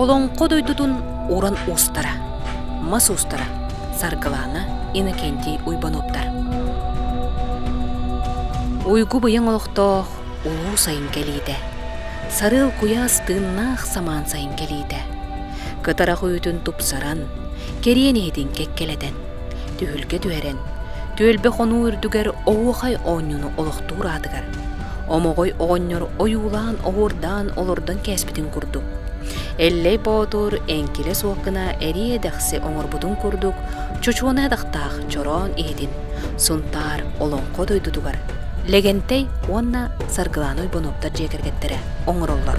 Олоҥхо дойдутун уран уустара мас уустара Саргылаана Иннокентий Уйбануттар Уйгу быйаҥ олохтоох улуу сайын кэлиитэ Сарыал куйаас тыыннаах самаан сайын кэлиитэ Кытарах үүтүн тупсаран, кэриэн иһитин кэккэлэтэн Түһүлгэ түһэрэн, түөлбэ хонуу үрдүгэр оһуохай оонньууну олохтуур аатыгар, омоҕой оҕонньор ойуулаан оһуордаан олордон кээспитин курдук, Эллэй Боотур эҥкилэ суох гына эрии эдэхси оҥорбутун курдук, чочуона атахтаах чороон иһитин Сунтаар Олоҥхо дойдутугар Лэгэнтэй уонна Саргылааны Ойбонуоптар дьиэ кэргэттэрэ оҥороллор.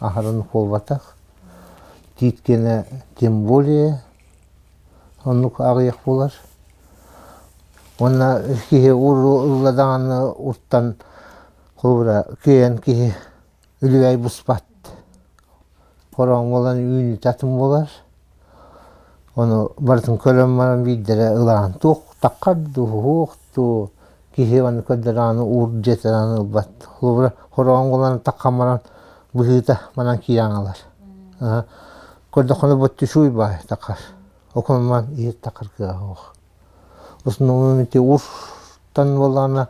аһарын буолбатах, тииткэнэ тем более оннук аҕыйах буолар. Уонна киһи уурула даҕаны уртан холобура киэйэн киһи үлүбэй буспат. Хороҥ буолан үүнүүтэ атын буолар. Ону барытын көрөн баран биирдэрэ ылаан туохтаххар дуу, уһуох дуу, киһи аны көрдөрөҕүнэ уур дьиэтинэн ылбат. Холобура хороҕон булан таххан баран быһыыта манан киирэн ылар. Көрдөххүнэ боттишуй баай таххар, окунуман иһир таххар кыаҕа суох. Основное ити ууртан буоллаҕына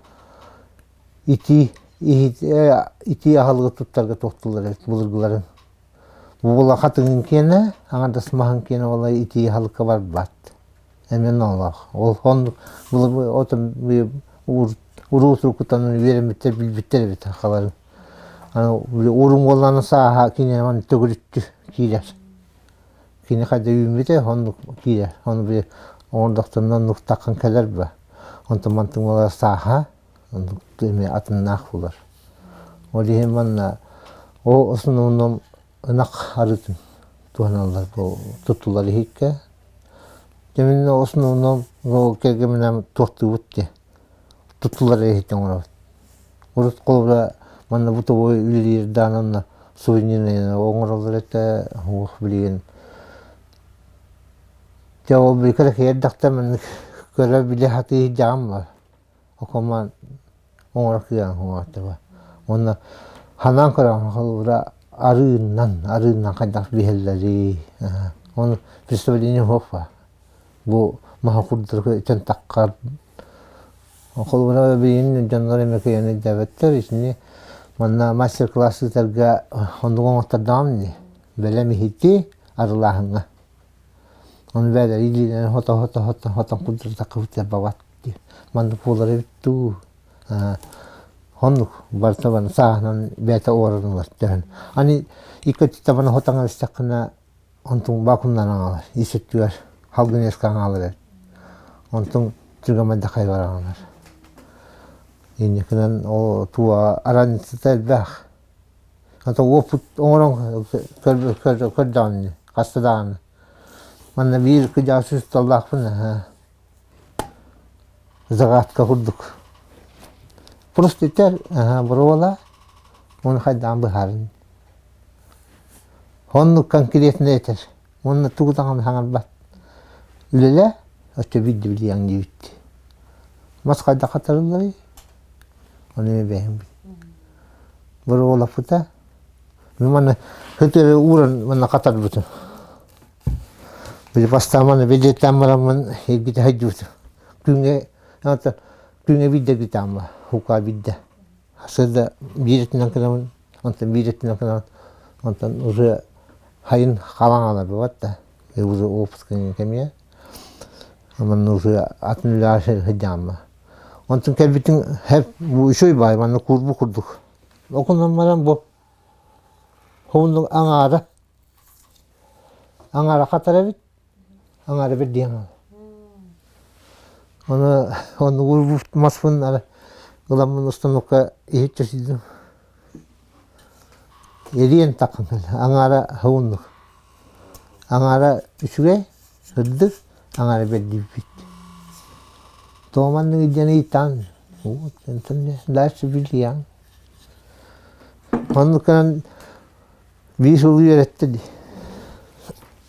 итии итии аһылыгы туттарга туохтуулар былыргыларын буулаха тыгын киэнэ аҥардас маһын киэнэ буолар итии аһылыкка барбат эмин олох ол оннук уруу турукутанан үөрэммиттэр билбиттэр эбит халарын урун буоллаҕына сааһа кининэн төгүрүттү киирэр кини хайда үүммүтэ оннук киирэр ону били оҕордохтонно нуктаккын кэлэр ба онтон мантыҥ буолар сааһа Тутуу эмиэ атыннаах буолар. Ол иһин манна ол основном ынах арыытын туһаналлар бу туттулар иһиккэ. Дьэ основном ол кэргэминэн туортуубут дии туттулар иһиттэн оҥоробут. Урут холобура манна бытовой үлэлиир даҕаны онно сувенирнайынан оҥороллор этэ уох билигин дьэ ол били кэлэкэйи эрдэхтэн маннык көрө-билэ сатыы иһдьэҕим бар окоммун оҥоро кыйаан уҥуохтуба уонна ханаан көрөн холбуура арыыннан арыыннан хайдах биһэллэрий ону представление хоппа бу маһы курдук итин таххар холбуура билигин дьоннор эмэ кыйаан өйдөөбөттөр итини манна мастер класс ыытарга оннук оҥоттордоҕум дии бэлэм иһити арылааһыҥҥа Ону бэйэлэрэ илиилэрин хото-хото-хото курдаттаххыт сарбабат дии. Маннык буолар эбит дуу? Оннук барыта сааһынан бэйэтэ уорунар төһөн. Аны икки өттүттэн хотоҥо истэххинэ онтуҥ бакуннан аҕалар. Ис өттүгэр халгыныаска аҕалар эбит. Онтуҥ чугамайдахай бараҕынар. Инникинэн ол тууга араныцыта элбэх. Ата уоппут оҥорон көрдөҕүн ини хаста даҕаны манна биир кыдьаҕас учууталлаахпын наһаа загадка курдук просто ити боруола уону хайдаан быһаарыҥ оннук конкретно этэр уонна тугу даҕаны саҥарбат үлэлээ оччо биирдэ билиэҥ диибит мас хайдах хатарылларый Ону эбэһим Боруолаппыта Мин манна хытыры ууран манна хатарбытым Били бастаамана бэдиэттаан бараммын эргитэ сылдьыбытым Күҥҥэ күҥҥэ биирдэргитаан бар Укаа биирдэ Сырда биир өттүнэн гынабын Онтон биир өттүнэн гынабын Онтон уже сайын халаҥ аҕалар буолбат да уже уопуска кэмиэ Манна ытыа атын үлэҕэ сылдьаама. Онтон кэлбитиҥ эһэп учуй баай манна куурбу курдук. Окунан баран бу хомуннук аҥаара аҥаара хатар эбит аҥаара бэрдиэн оны оннугу маспын ара ыламмын устанукка иһитчэ сиидим Илиэн такымын аҥаара һууннук, аҥаара үчүгэй, ырдык, аҥаара бэрдийбит. Тоо маннык илдьэн ыйытан, дальше билиэҥ. Оннук гынан биир сыл үөрэттэ дии.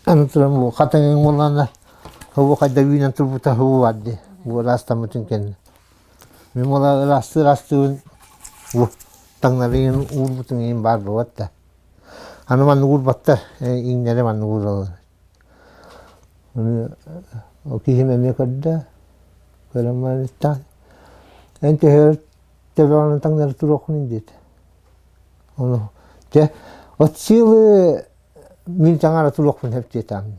Аны туран бу хатыҥыҥ буоллаҕына, һубу хайда үүнэн турбута һуу баар дии. Бу ыраастаммытын кэннэ. Мин уола ырастыы-ырастыыбын уу таҥнарыйан уурбутум иһин баар буолуот да аны манна уурбаттар иҥнэри манна уураллар ол киһим эмиэ көрдө көрөн баран эн төһө төбөҕүнэн таҥнары туруоххунуй диэт ону дьэ от силы мин таҥара туруохпун сөп диэтэҕим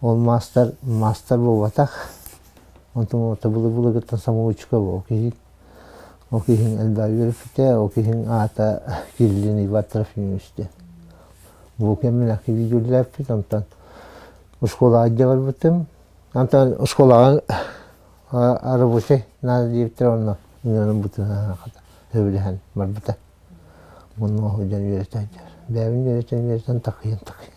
Ол маастар, маастар буолбатах. Онтон табылы-былыгыттан самоучка ол киһи. Ол киһиҥ элбэҕи үөрэппитэ, ол киһиҥ аата Кириллин Иван Трофимович диэн. Бу кэмнээх видеолээппит, онтон оскуолаҕа барбытым. Онтон оскуолаҕа рабочай надо диэбиттэр, онно үнүөнүн бытыһаһан сөбүлэһэн барбыта. Муннуоһу дьон үөрэтэн, бэйэбин үөрэтэн, үөрэтэн такыйан, такыйан.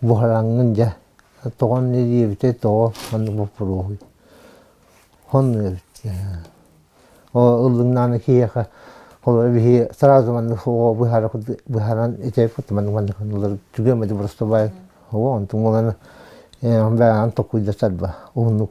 буһараҥҥын дьэ тоҕон диэбитэ тоҕо маннык боппуруоһуй хонну эбит оо ыллыҥнаана киһиэхэ холобура биһи сразу маннык оо быһара быһаран итэ маннык маннык ыллар түгэн бэди боростубай оо онтуҥ буолан бэҕэһээн токуйда сарба уһуннук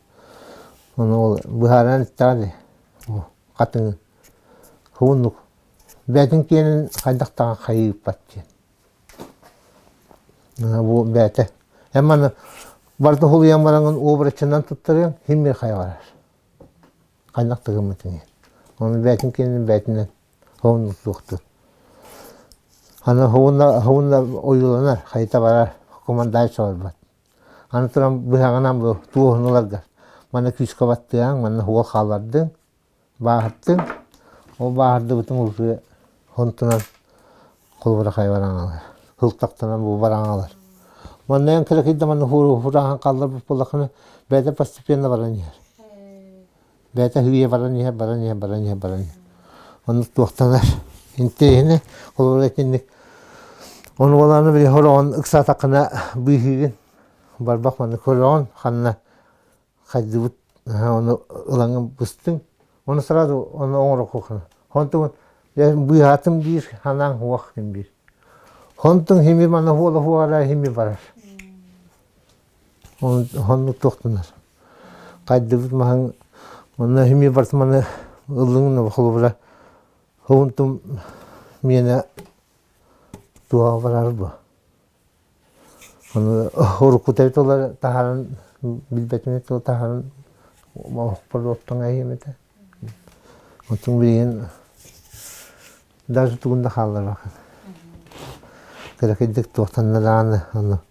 Ону ол быһааран эттэҕэ дии, бу хатыҥын. Хомуннук. Бээтин киэнин хайдах даҕаны хайыыппат диэн. Бу бээтэ. Эн маны барыта холуйан бараҥын обрачынан туттарыаҥ, химия хайҕарар. Хайдах тыгыммытын иһин. Ону бээтин киэнин бээтинэн хомуннуктуохтун. Аны хомунна ойууланар, хайыта барар, командайча барбат. Аны туран быһаҕынан бу туоһунуларга манна күүскэ баттыаҥ, манна уол хаалардыҥ, бааһыртыҥ. Ол бааһырдыбытын улуутуйа хонтунан холобура хайа баран аҕалар, һылтахтанан бу баран аҕалар. Манна эн кыракый да манна хурааһын хаалларбыт буоллаххына, бэйэтэ постепенно баран иһэр. бэйэтэ үһүйэ баран иһэр баран иһэр баран иһэр баран иһэр онно туохтанар интэйэһинэ холобура итинник ону болааны били олоҕун ыксаатаххына быыһыыгын барбах манна көрөҕүн ханна хайдыбыт ону ылаҥын быстыҥ оны сразу оны оҥорохуоххуна онтугун быыһаатым биир ханаан хуох хим биир онтун хими мана хуола хуора хими барар Онно туохтанар. Хайдыбыт маһын манна эмиэ барыс маны ыллыҥына холобура уһунтум миэнэ туһаҕа барар буо. Аны урукку төрүт олор таһааран билбэтим эт ол таһааран оһохпор оттоҥ эһиэм этэ. Оттон билигин даже тугун да хаалларбаккын. Кыракыйдык туохтанна даҕаны аны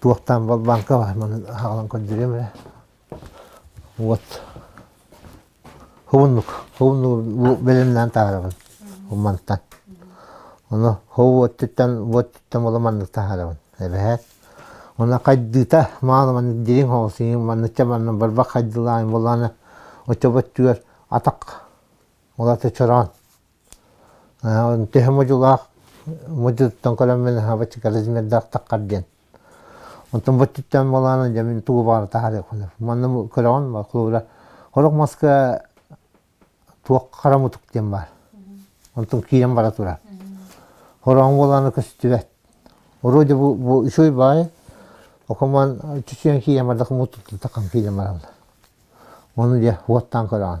Туохтаан балбааҥка маннык аһаҕалан көрдөрүөм эрэ уот хомуннук хомуннугу бэлэмнээн таһаарабын мантан ону хов уоттуттан уоттуттан буола маннык таһаарабын эбэһээт уонна хайдыыта мааны маннык дириҥ хоҕосиҥ маннычча манна барбах хайдылааҥ буолааны оччобо өттүгэр атах улаата чороон Төһө модьулаах модьутуттан көлөммүн аһаабаччы коррозиҥердаахтаххар диэн. Онтон бу өттүттэн буолааны дьэ мин тугу баара таһаарыахпын. Манна көрөҕүн холобура сорох маска туох харамытык диэн баар. Онтон киирэн бара турар. Хороон буолааны көстүбэт. Оруодьа бу бу үчүгэй баайы окомон чүчүөн киирэн бардах мутуттата кам киирэн баралла. Ону дьэ уоттаан көрөҕүн.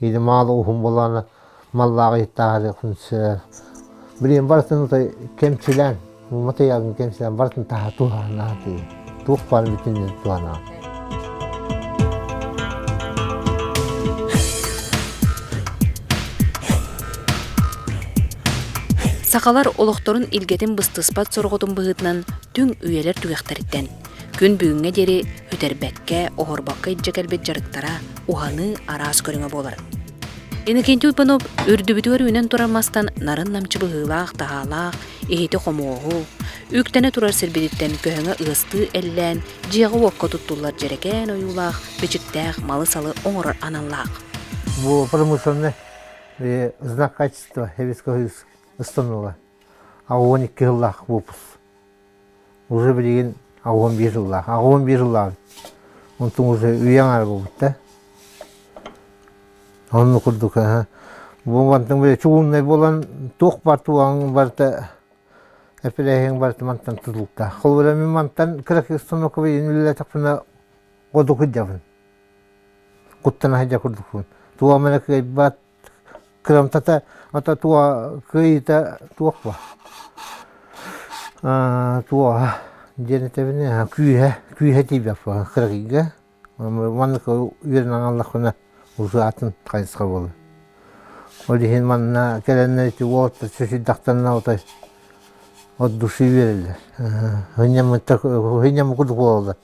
Идемаала уһун буолаана маллаах иттааһылыахын сөп. Билиэн барытын ото кэмчилээн, ума тыйаҕын кэмчилээн барытын таһа туһанаатыы. Туох баар бүтүннүн туһанаат. Сақалар олохторун илгэтин быстыспат сорҕотун быһытынан түҥ үйэлэр түгэхтэриттэн Күн бүгүҥҥэ диэри үтэрбэккэ, оһорбокко илдьэ кэлбит дьарыктара уһаныы араас көрүҥэ буолар. Иннокентий Уйпанов үрдүбүтүгэр үүнэн турар мастан нарын намчы быһыылаах, таһаалаах, иһити-хомуоһу, үктэнэ турар сирбититтэн көһөҥө ыастыы эллээн, дьиэҕэ-уокка туттуллар дьэрэкээн ойуулаах, бичиктээх малы-салы оҥорор аналлаах. Було промышленный знак качества Советского Установа. А он икки сыллаах выпуск. Уже билигин аҕа уон биир сыллаах. Аҕа уон биир сыллаах. Онтун уже үйэ аҥара буолбутта. Онну курдук Бугантың били чугуннай болан туох бар туаң барта эпилэһиң барта мантан тутулта. Холбура мин мантан кыракыстанокова иниллетекпина годукуддабын. Куттана хажа курдукун. Туамана кайбат Кыамтата ото туо кыйыта туохва туоха диэн этэбин күүһэ күүһэ тиийбэппэ кырыгыйга маннык үөрэн аналлаххына ушаатын хайысха буолар ол иһин манна кэлэннэр ити уот сусүйдахтанна отой от души үөрэллэр хынньаммыта хынньаммыкут буолаллар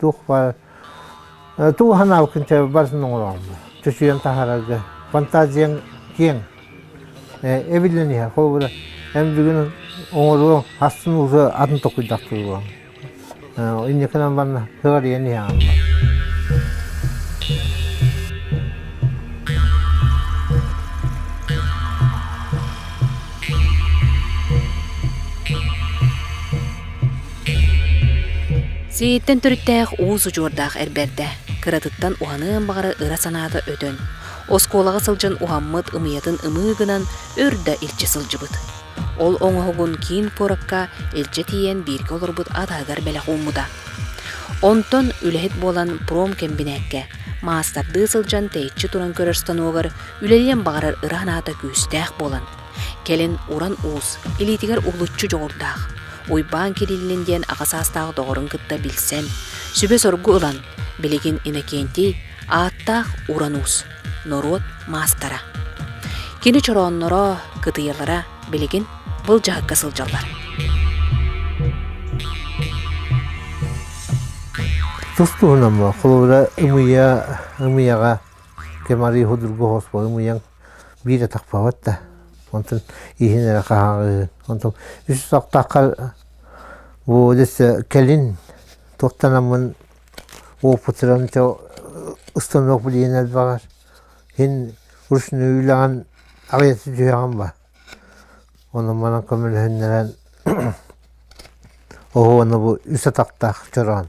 туох баар тугу санаабыккын чэ барытын оҥорооммун чочуйан таһаарарга фантазияҥ киэҥ эбиллэн иһэр холобура эн бүгүн оҥоруоҥ астын ууса атын толкуйдах туруоҥ инникинэн барна кыҕарыйан иһэҕин Сиһиттэн төрүттээх уус удьуордаах эр бэрдэ. Кыратыттан уһаныан баҕара ыра санаата өтөн, оскуолаҕа сылдьан уһаммыт ымыйатын ымыы гынан өр да илдьэ сылдьыбыт. Ол оҥоһугун киин куоракка илдьэ тиийэн бииргэ олорбут атаһыгар бэлэх ууммута. Онтон үлэһит буолан промкомбинээккэ маастардыы сылдьан тэйиччи туран көрөр станогар үлэлиэн баҕарар ыра санаата күүстээх буолан, Кэлин уран уус, илиитигэр улуччу дьоҕурдаах, Уйбаан Кириллин диэн аҕа саастаах доҕорун кытта билсэн, сүбэ-соргу ылан, билигин Иннокентий ааттаах уран уус, норуот маастара. Кини чороонноро, кытыйалара билигин былдьаһыкка сылдьаллар. Тустуунам холобура ымыйа ымыйаҕа кемари худургу хоспо ымыяң биир атахпабыт да онтун иһин эрэ хаһааҕыыһын онтон үс тохтооххо Володя өссө кэлин туохтанаммын опытыран чэ установка билиэн элбэҕэр иһин ручной үлэҕин аҕыйата түһүөҕүн ба онон манан көмөлөһүннэрэн оһуона бу үс атахтаах чороон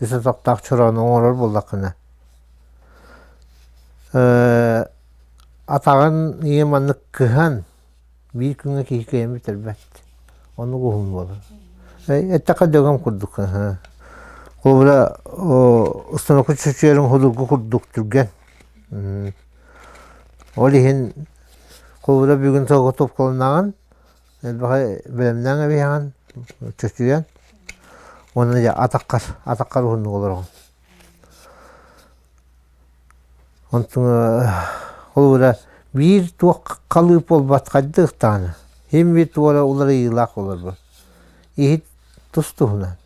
ис отоктоох чороону оҥорор буоллаххына атаҕын ийэ маннык кыһан биир күҥҥэ киһи кыйан бүтэрбэт оннук уһун буолар эттэххэ дөгөм курдук холобура установка чочуерун худургу курдук түргэн ол иһин холобура бүгүн тоҕо топкаланаҕын элбэҕи бэлэмнээҥ эбиэҕин чочуйан уонна дьэ атаххар атаххар уһуннук олороҕун холобура биир туох халыып буолбат хайдах даҕаны иһин-бит туора уларыйыылаах олорбот иһит тус туһунан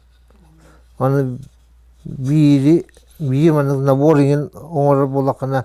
аны биири биир маннык набор иҥин оҥорор буоллаххына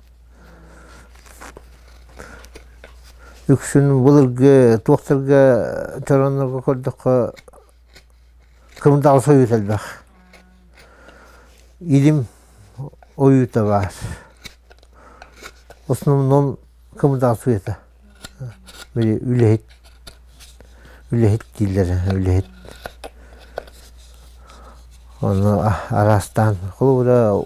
Үксүн былыргы туохтарга чорооннорго көрдөххө кымдаҕас ойут элбэх. Илим ойуута баар. В основном кымдаҕас ойута. Били үлэһит, үлэһит дииллэр, үлэһит. Ону араастаан холобура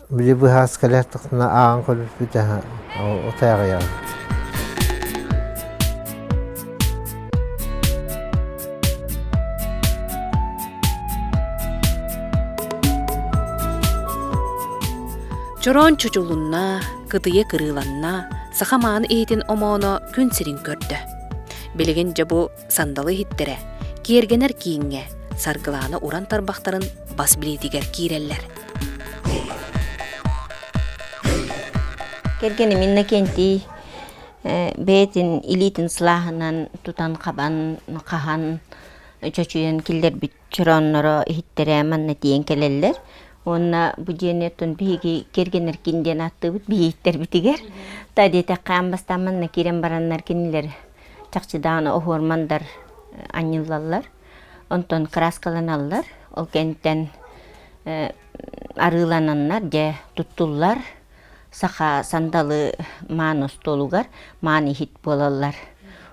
Били быһаас кэлэр тахсына ааҕан көрбүппүт аһа утээҕийэҕит Чороон чучулунна, кытыйа кырыыланна, саха мааны иһитин омооно күн сирин көрдө. Билигин дьэ бу сандалы иһиттэрэ, киэргэнэр кииҥҥэ, саргылаана уран тарбахтарын бас билиитигэр киирэллэр. Кэргэним Иннокентий бэйэтин илиитин сылааһынан тутан-хабан, хаһан чочуйан киллэрбит чороонноро иһиттэрэ манна тиийэн кэлэллэр. Уонна бу дьиэни оттон биһиги кэргэннэркин диэн ааттыыбыт биһиттэрбитигэр. Та диэтэххэ ам бастаан манна киирэн бараннар кинилэр чахчы даҕаны оһуормандар анньыллаллар, онтон кырааскаланаллар, ол кэнниттэн арыылананнар, дьэ туттуллар, саха сандалы маан остуолугар маан иһит буолаллар.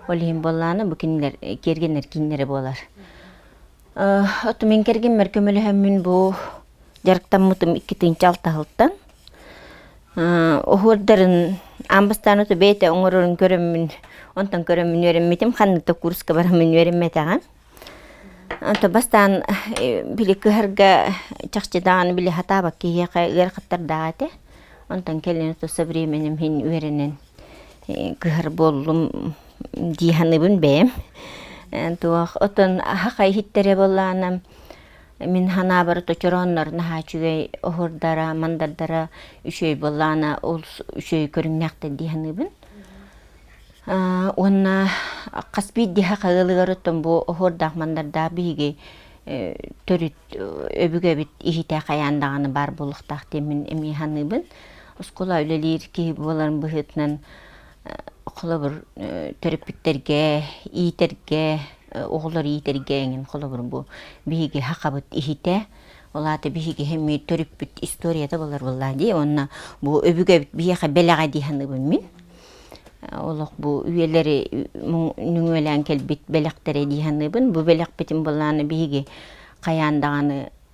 Ол иһин буоллаҕына бу кинилэр киэргэнэр кииннэрэ буолар. Оту мин кэргиммэр көмөлөһөммүн бу дьарыктаммытым иккитинчи алтаһылтан. Оһуордарын аан бастаан оту бэйэтэ оҥорорун көрөммүн, онтон көрөммүн үөрэммитим, ханнык да курска бараммын үөрэммэтэҕим. Онто бастаан били кыһарга чахчы даҕаны били сатаабат киһиэхэ ыарахаттар даҕа этэ. Онтон кэлин оту со временем иһин үөрэнэн кыһар буоллум дии саныыбын бэйэм туох отон аһаха иһиттэрэ буоллаанам мин санаабар точорооннорун аһаа үчүгэй оһурдара мандардара үчүгэй буоллаана олус үчүгэй көрүҥнээхтэр дии саныыбын уонна хас биирдиэхэ хаһыылыгарыттан бу оһуордаах мандардаах биһиги төрүт өбүгэбит иһитэ хайаан даҕаны баар буолуохтаах диэн мин эмиэ саныыбын Оскуола үлэлиир киһи буоларым быһыытынан холобур төрөппүттэргэ иитэргэ оҕолор иитэргэ эҥин холобур бу биһиги хахабыт иһитэ ол аата биһиги эмиэ төрүппүт историята болар буоллаа дии уонна бу өбүгэ биһиэхэ бэлэҕэ дии саныыбын мин олох бу үйэлэри нүҥүөлээн кэлбит бэлэхтэрэ дии саныыбын бу бэлэхпитин былаана биһиги хайаан даҕаны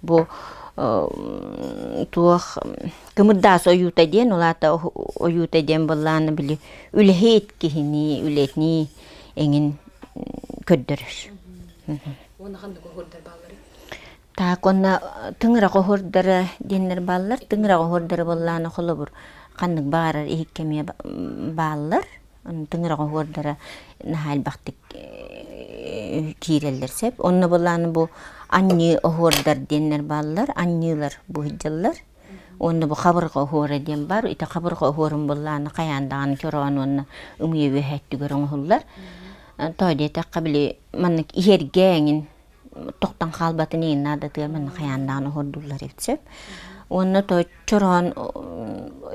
Бу туох кымырдаас ойуута диэн улаата ойуута диэн быллаана били үлэһит киһини үлэтини эҥин көрдөрөр. Уонна ханнык оһордар бааллары? Так онна тыңырақ оһордара диэннэр бааллар. Тыңырақ оһордара быллаана холобур ханнык баарар иһиккэмие бааллар. тыҥыраҕа оһуордара наһаа элбэхтик киирэллэр сөп. Онно былаан бу анньыы оһуордар диэннэр бааллар, анньыылар буһдьаллар. Онно бу хабырҕа оһуора диэн бар. Ити хабырҕа оһуорун былааны хайаан даҕаны чороон уонна ымыйа үөһэ өттүгэр оҥоһуллар. Тоо диэтэххэ били маннык иһэргэ эҥин тохтон хаалбатын иин наадатыам аны хайаандаан оһордууллар эбит сөп уонна то чороон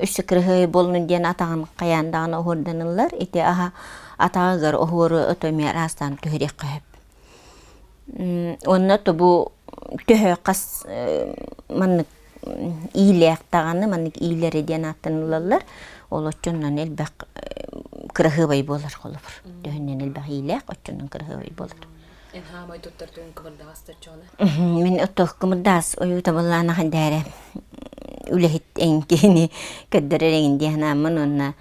үссе кырыһыай болну диэн атаҕын хайаандаан оһордонуллар ити аха атаҕыгар оһуору ото миэр аастаан түһэриэххэ хөп онно тобу төһө хас маннык иилээхтаҕаны маннык иилэри диэн ааттаныллаллар ол отчуннан элбэх кыраһыабай буолар холобур төһүннэн элбэх иилээх отчуннан кыраһыабай буолар Эн хаамай туттартыгын кымырдаҕастар чоона? Мин оттох кымырдаас ойуутабыллаан ахаддääре үлэһит эҥ киһини көрдөрөр эҥин дии санааммын уонна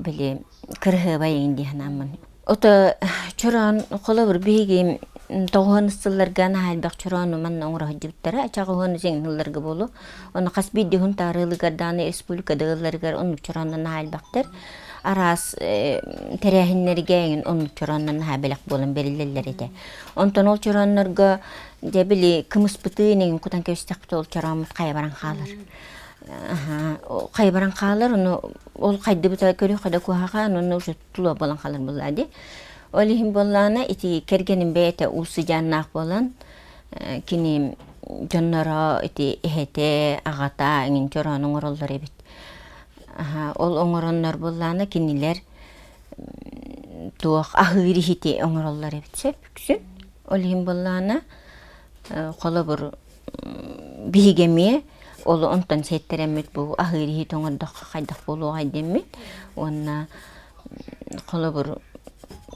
били кыраһыабай эҥин дии санааммын. Ото чороон холобур биһиги тоҕуһун ыстылларга наһаа элбэх чороону манна оҥоро сылдьыбыттара ачах уһуну сиҥнылларга буолуо. Ону хас биирдии уһун таарыылыгар даҕаны республикада ыылларыгар оннук чорооннор наһаа элбэхтэр. араас тэрээһиннэргэ оннук чорооннор наһаа бэлэх буолан бэриллэллэр этэ. Онтон ол чорооннорго дьэ били кымыспытыы инигин кутан кэбистэхпит ол чорооммут хайа баран хаалар. Хайа баран хаалар ону ол хайдыбыта көрүөхэ да куһаха ону уже тула болан халар буллаади. Ол иһин боллаана ити кэргеним бэйэтэ уусыдьааннаах болан кини дьонноро ити эһэте, аҕата иҥин чороон оҥороллор эбит. Ол оҥороннор буоллаана кинилэр туох аһыыр иһити оҥороллор эбит сөп үксүн. Ол иһин буоллаана холобур биһиги эмиэ олу онтон сиэттэрэммит бу аһыыр иһити оҥордоххо хайдах буолуоҕай диэммит уонна холобур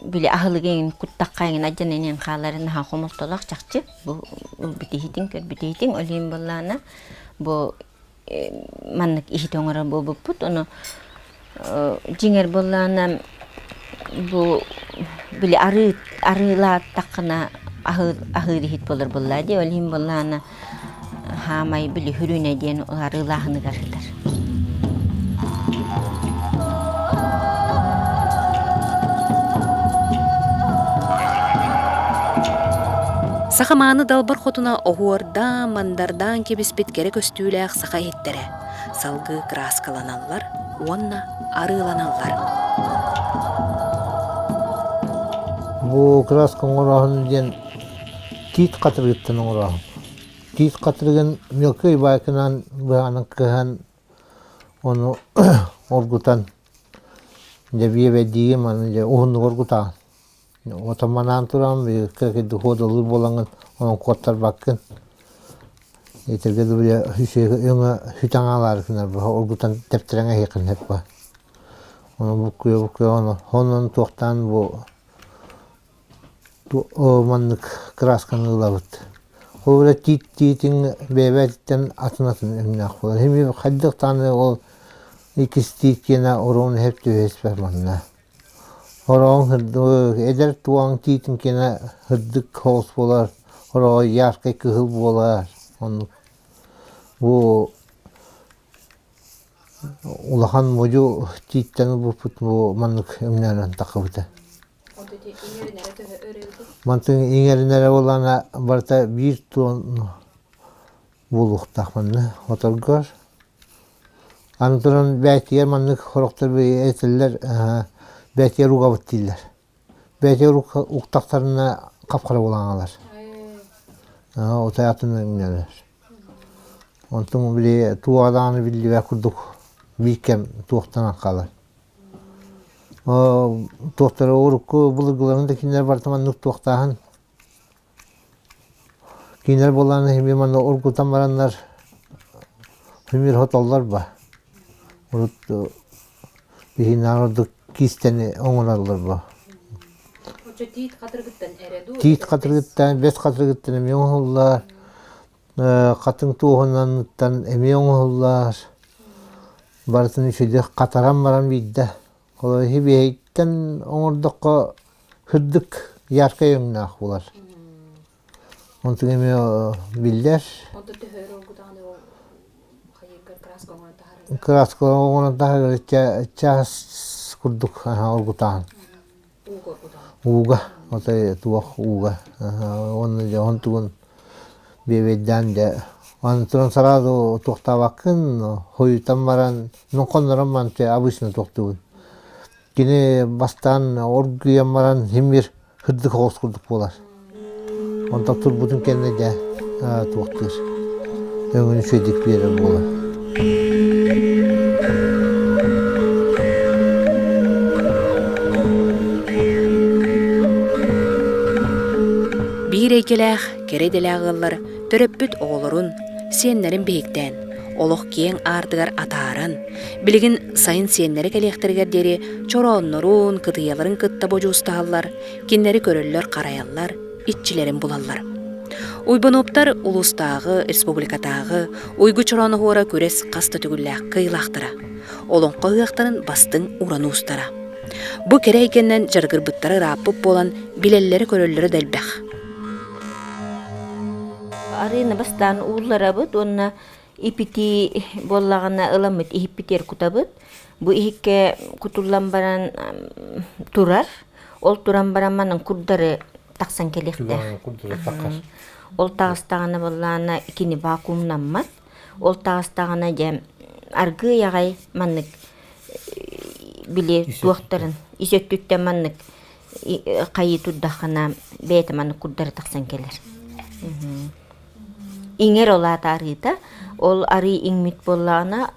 били аһылыгы эҥин куттахха эҥин адьан эниэн хааларын аһа хомолтолоох чахчы бу билбит иһитиҥ көрбүт иһитиҥ ол иһин буоллаана бу маннык иһит оҥорор буолбуппут. Ону дьиҥэр буоллаҕына бу били арыы арыылааттаххына аһыыр аһыыр иһит буолар буоллаа дии. Ол иһин буоллаҕына хаамай били Хүрүүнэ диэн арыылааһыныгар сытар. Саха мааны далбар хотуна оһуордаан, Андардаан кэбиспит кэрэ көстүүлээх саха иһиттэрэ салгыы кырааскаланаллар уонна арыыланаллар. Бу краска оҥороһун диэн тиит хатырыыттан оҥороһун. Тиит хатырыгын мелкий байкынан быһаанын кыһан ону оргутан дьэбиэбэдиги маны дьэ уһуннук оргутаан. Отоманаан туран доходалыы буолаҥын онон куоттарбаккын итиргэ да били өҥө хүтэн оргутан тэптирэҥ эһиэхин бу онон туохтаан бу маннык красканы ылабыт ол эрэ тиитин бэйэбититтэн атын атын өҥнөөх буолар ханнык даҕаны ол иккис тиит киэнэ оруон иһэр түһэ испэт манна Ороҥ эдэр тууан Тиитиҥкинэ һырдык һоос буолар, ороҕо яркай кыһыл буолар, оннук. Бу улахан модьу Тииттэн булбут бу маннык өҥнөөрөн таххыбыта. Мантан иҥэринэрэ буоллаҕына барыта биир туон буолуохтаах манна оторгор. Аны туран бээтигэр маннык сорохтор этэллэр бээтигэр угабыт дииллэр. Бээтигэр уктахтарына хап-хара булаҥалар. Отой атын өҥнөнөр. Онтум били туоҕа даҕаны биллибэт курдук биир кэм туохтанан хаалар. Туохтары урукку былыргыларын да кинилэр барыта маннык туохтааһын Кинилэр буоллаҕына иһин мин манна ургутан бараннар мимири отоллорбо. Урут биһинээҕи ордук киистэни оҥороллорбо. Оччо тиит хатырыгыттан эрэ дуу? Тиит хатырыгыттан, бэс хатырыгыттан эмиэ оҥоһуллар. Хатыҥ туоһунанныттан эмиэ оҥоһуллар. Барытын үчүгэйдик хатаран баран биирдэ Олор хибиэйтэн оҥордоххо сырдык яркай өҥнөөх булар. Онтон эмиэ биллэр. Онто төһөр оргутаҕын краска оҥорон таһаарар. Краска оҥорон таһаарар чаас курдук оргутаҕын. Ууга, отой туох ууга уонна дьэ оһон тугун биэбэйдээн дьэ аны туран сразу туохтаабаккын хойутан баран нонхоннорон манчы обычно туохтуубун кини бастаан оргуйан баран симир кырдык соҕус курдук буолар Онтон турбутун кэннэ дьэ туохтуур өҥүн үчүгэйдик биэрэр буолан Биир эйгэлээх, кэрэ идэлээх ыаллар төрөппүт оҕолорун, сиэннэрин биһиктээн, олох киэҥ аартыгар атааран, билигин сайын сиэннэрэ кэлиэхтэригэр диэри чорооннорун, кытыйаларын кытта бодьуустаһаллар, кинилэри көрөллөр-харайаллар, иччилэрин булаллар. Уйбунууптар улуустааҕы, республикатааҕы Уйгу Чорооноһуора күрэс хас да төгүллээх кыйылаахтара. Олоҥхо ыһыахтарын бастыҥ уран уустара. Бу кэрэ эйгэннэн дьарыгырбыттара ырааппыт буолан, билэллэрэ-көрөллөрө да элбэх. Арына бастаан уулларабыт уонна ипити буоллаҕына ыламмыт иһиппитер кутабыт. Бу иһикке кутуллан баран турар. Ол туран баран манан курдары тахсан кэлиэхтээх. Ол таҕыстаҕына боллаана итини вакуумнаммат. Ол таҕыстаҕына дьэ аргыый аҕай маннык били туохтарын ис өттүттэн маннык хайыы турдаххына бэйэтэ маннык курдары тахсан кэлэр. Иҥэр ол аата арыыта. Ол арыы иҥмит буоллаҕына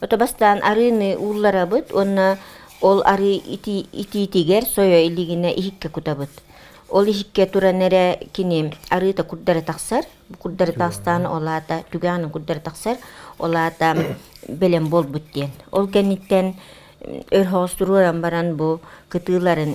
Ото бастаан арыыны уулларабыт уонна ол арыы итии итиитигэр сойо илигинэ иһиккэ кутабыт. Ол иһиккэ туран эрэ кини арыыта курдары тахсар, бу курдары таастаана ол аата түгэҕинэн курдары тахсар, ол аата бэлэм буолбут диэн. Ол кэнниттэн өр хоҕус туруоран баран бу кытыыларын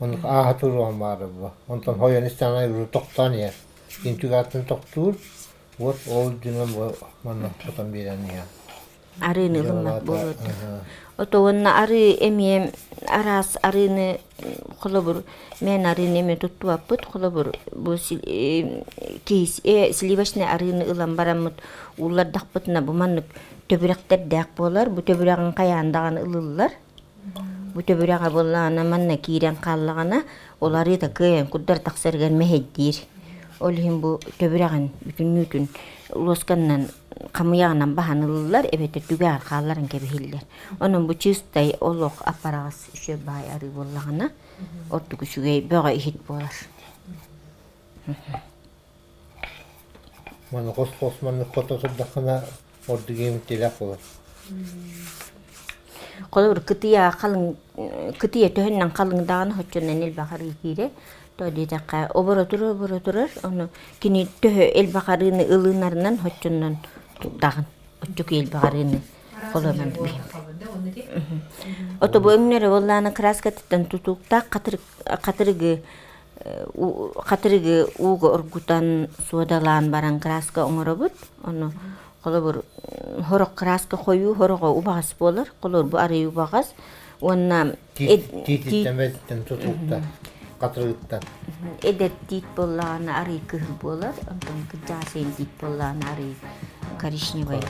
Онук ааһа туруоҕун баара буо. Онтон хойон истэҕинэ уруу тохтоон иһэр. Интик аатын тохтуур. Уот ол дьонун бу манна хотон биэрэн иһэн. Арыыны ылыммат буолуо да. Ото уонна арыы эмиэ араас арыыны холобур мен арыыны эмиэ туттубаппыт холобур бу киһис э сливочный арыыны ылан бараммыт ууллардахпытына бу маннык төбүрэхтэрдээх буолар бу төбүрэҕин хайаан даҕаны ылыллар Бу төбүрэҕэ былаана манна киирэн хааллаҕына, ол арыыта кыайан курдары тахсарыгар мэһэйдиир. Ол иһин бу төбүрэҕин бүтүннүүтүн луосканан хамыйаҕынан баһан ылыллар эбэтэр түгэҕэр хаалларан кэбиһиллэр. Онон бу чистай олох аппараҕас үчүгэй баай арыы буоллаҕына, ордук үчүгэй бөҕө иһит буолар. Маны хос-хос маннык хото турдаххына, ордугум тилэх буолар Холобур, кытыйа халыҥ кытыйа төһөннөн халыҥ даҕаны хоччоннон элбэх арыы киирэ. То диэтэххэ оборотору оборо турар, ону кини төһө элбэх арыыны ылынарынан хоччоннон турдаҕын. Оччоку элбэх арыыны холонон Ото бу өҥнөрө буоллаана краскатыттан тутууктаах хатырыгы хатырыгы ууга оргутан суодалаан баран кырааска оҥоробут ону холобур сорох кырааска хойуу сорохо убаҕас буолар холобур бу арый убаҕас уонна тиититтэн тутууттан хатырыыттан эдэр тиит буоллаҕына арый кыһыл буолар онтон кырдьаҕас тиит буоллаҕына арый коричневай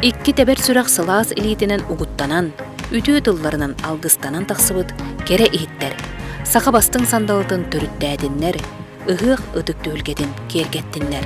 Икки тэбэр сүрэх сылаас илиитинэн угуттанан, үтүө тылларынан алгыстанан тахсыбыт кэрэ иһиттэр, саха бастыҥ сандалытын төрүттээтиннэр, Ыһыах ытык түһүлгэтин киэргэттиннэр.